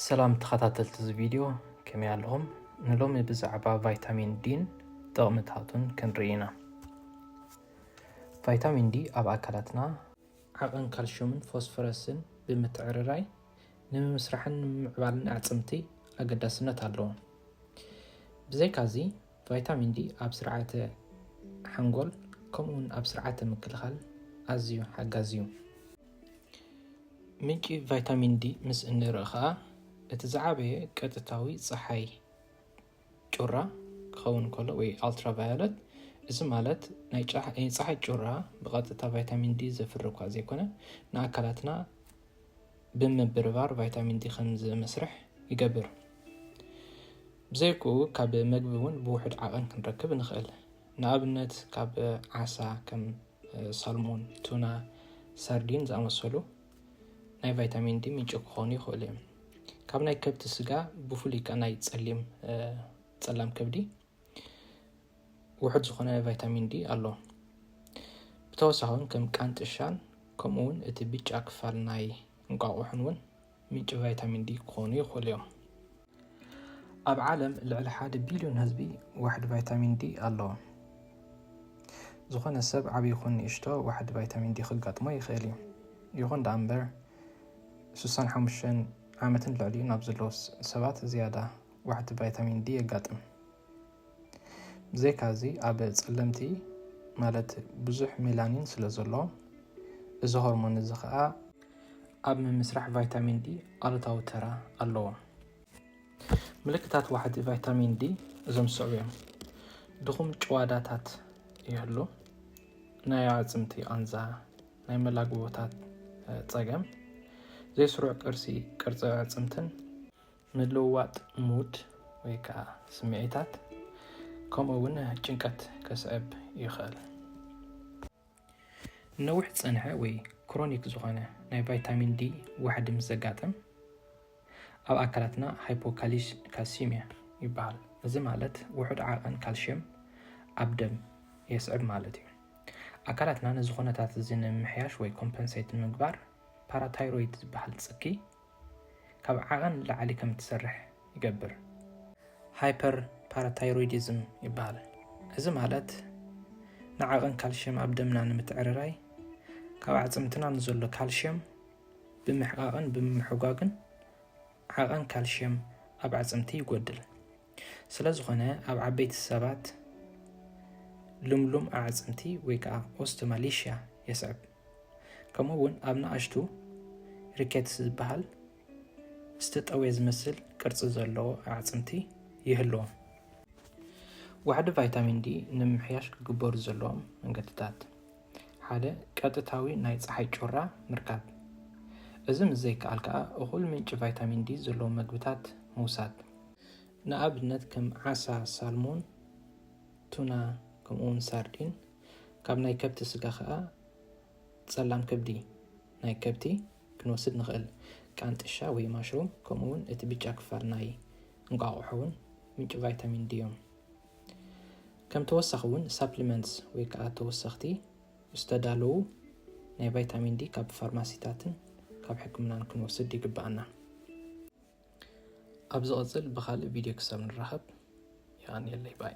ሰላም ተኸታተልቲ እዚ ቪድዮ ከመይ ኣለኹም? ንሎሚ ብዛዕባ ቫይታሚን ዲን ጥቕምታቱን ክንርኢ ኢና። ቫይታሚን ዲ ኣብ ኣካላትና ዓቐን ካልሽየምን ፎስፈረስን ብምትዕርራይ ንምምስራሕን ንምምዕባልን ኣዕፅምቲ ኣገዳስነት ኣለዎ። ብዘይካዚ ቫይታሚን ዲ ኣብ ስርዓተ ሓንጎል ከምኡውን ኣብ ስርዓተ ምክልኻል ኣዝዩ ሓጋዚ እዩ። ምንጪ ቫይታሚን ዲ ምስ እንርኢ ኸኣ እቲ ዝዓበየ ቀጥታዊ ጸሓይ ጩራ ክኸውን ከሎ ወይ ኣልትራቫዮለት እዚ ማለት ናይ ፀሓይ ጩራ ብቐጥታ ቫይታሚን ዲ ዘፍሪ እኳ ዘይኮነ ንኣካላትና ብምብርባር ቫይታሚን ዲ ከም ዝመስርሕ ይገብር። ብዘይክኡ ካብ መግቢ እውን ብውሑድ ዓቐን ክንረክብ ንኽእል። ንኣብነት ካብ ዓሳ ከም ሳልሞን፣ ቱና፣ ሳርዲን ዝኣመሰሉ ናይ ቫይታሚን ዲ ምንጪ ክኾኑ ይኽእሉ እዮም። ካብ ናይ ከብቲ ስጋ ብፍሉይ ከኣ ናይ ጸሊም ጸላም ከብዲ ውሑድ ዝኾነ ቫይታሚን ዲ ኣሎ። ብተወሳኺ እውን ከም ቃንጥሻን ከምኡ እውን እቲ ብጫ ክፋል ናይ እንቋቑሖን እውን ምንጪ ቫይታሚን ዲ ክኾኑ ይኽእሉ እዮም። ኣብ ዓለም ልዕሊ ሓደ ቢልዮን ህዝቢ ዋሕዲ ቫይታሚን ዲ ኣለዎ። ዝኾነ ሰብ ዓብዪ ይኹን ንእሽቶ ዋሕዲ ቫይታሚን ዲ ክጋጥሞ ይኽእል እዩ። ይኹን ደኣ እምበር 65 ዓመትን ልዕሊኡን ኣብ ዘለዉ ሰባት ዝያዳ ዋሕዲ ቫይታሚን ዲ የጋጥም። ብዘይካዚ ኣብ ጸለምቲ ማለት ብዙሕ ሜላኒን ስለ ዘሎ እዚ ሆርሞን እዚ ከኣ ኣብ ምምስራሕ ቫይታሚን ዲ ኣሉታዊ ተራ ኣለዎ። ምልክታት ዋሕዲ ቫይታሚን ዲ እዞም ዝስዕቡ እዮም። ድኹም ጭዋዳታት ይህሉ፣ ናይ ኣዕጽምቲ ቃንዛ፣ ናይ መላግቦታት ጸገም፣ ዘይስሩዕ ቅርሲ ቅርጺ ኣዕጽምትን፣ ምልውዋጥ ሙድ ወይ ከኣ ስምዒታት ከምኡ'ውን ጭንቀት ከስዕብ ይኽእል። ንነዊሕ ዝጸንሐ ወይ ክሮኒክ ዝኾነ ናይ ቫይታሚን ዲ ዋሕዲ ምስ ዘጋጥም ኣብ ኣካላትና ሃይፖካልሲሚያ ይበሃል። እዚ ማለት ውሑድ ዓቐን ካልሽየም ኣብ ደም የስዕብ ማለት እዩ። ኣካላትና ነዚ ኩነታት እዚ ንምምሕያሽ ወይ ኮምፐንሴት ንምግባር ፓራታይሮይድ ዝበሃል ጽኪ ካብ ዓቐን ንላዕሊ ከም እትሰርሕ ይገብር። ሃይፐርፓራታይሮይዲዝም ይበሃል። እዚ ማለት ንዓቐን ካልሽየም ኣብ ደምና ንምትዕርራይ ካብ ኣዕፅምትና ንዘሎ ካልሽየም ብምሕቓቕን ብምምሕጓግን ዓቐን ካልሽየም ኣብ ኣዕፅምቲ ይጎድል። ስለ ዝኾነ ኣብ ዓበይቲ ሰባት ልምሉም ኣዕፅምቲ ወይ ከዓ ኦስተማሊሽያ የስዕብ። ከምኡ እውን ኣብ ንኣሽቱ ሪኬትስ ዝበሃል ዝተጠውየ ዝመስል ቅርፂ ዘለዎ ኣዕፅምቲ ይህልዎም። ዋሕዲ ቫይታሚን ዲ ንምምሕያሽ ክግበሩ ዘለዎም መንገድታት ሓደ ቀጥታዊ ናይ ፀሓይ ጩራ ምርካብ፣ እዚ ምስ ዘይከኣል ከዓ እኹል ምንጪ ቫይታሚን ዲ ዘለዎም መግብታት ምውሳድ፣ ንኣብነት ከም ዓሳ ሳልሞን፣ ቱና ከምኡውን ሳርዲን ካብ ናይ ከብቲ ስጋ ከኣ ጸላም ከብዲ ናይ ከብቲ ክንወስድ ንኽእል ቃንጥሻ ወይ ማሽሩም ከምኡውን እቲ ብጫ ክፋል ናይ እንቋቑሖ እውን ምንጪ ቫይታሚን ዲ እዮም ከም ተወሳኺ እውን ሳፕሊመንትስ ወይ ከዓ ተወሰኽቲ ዝተዳለዉ ናይ ቫይታሚን ዲ ካብ ፋርማሲታትን ካብ ሕክምናን ክንወስድ ይግብኣና ኣብ ዝቕፅል ብካልእ ቪድዮ ክሳብ ንራኸብ የቐንየለይ ባይ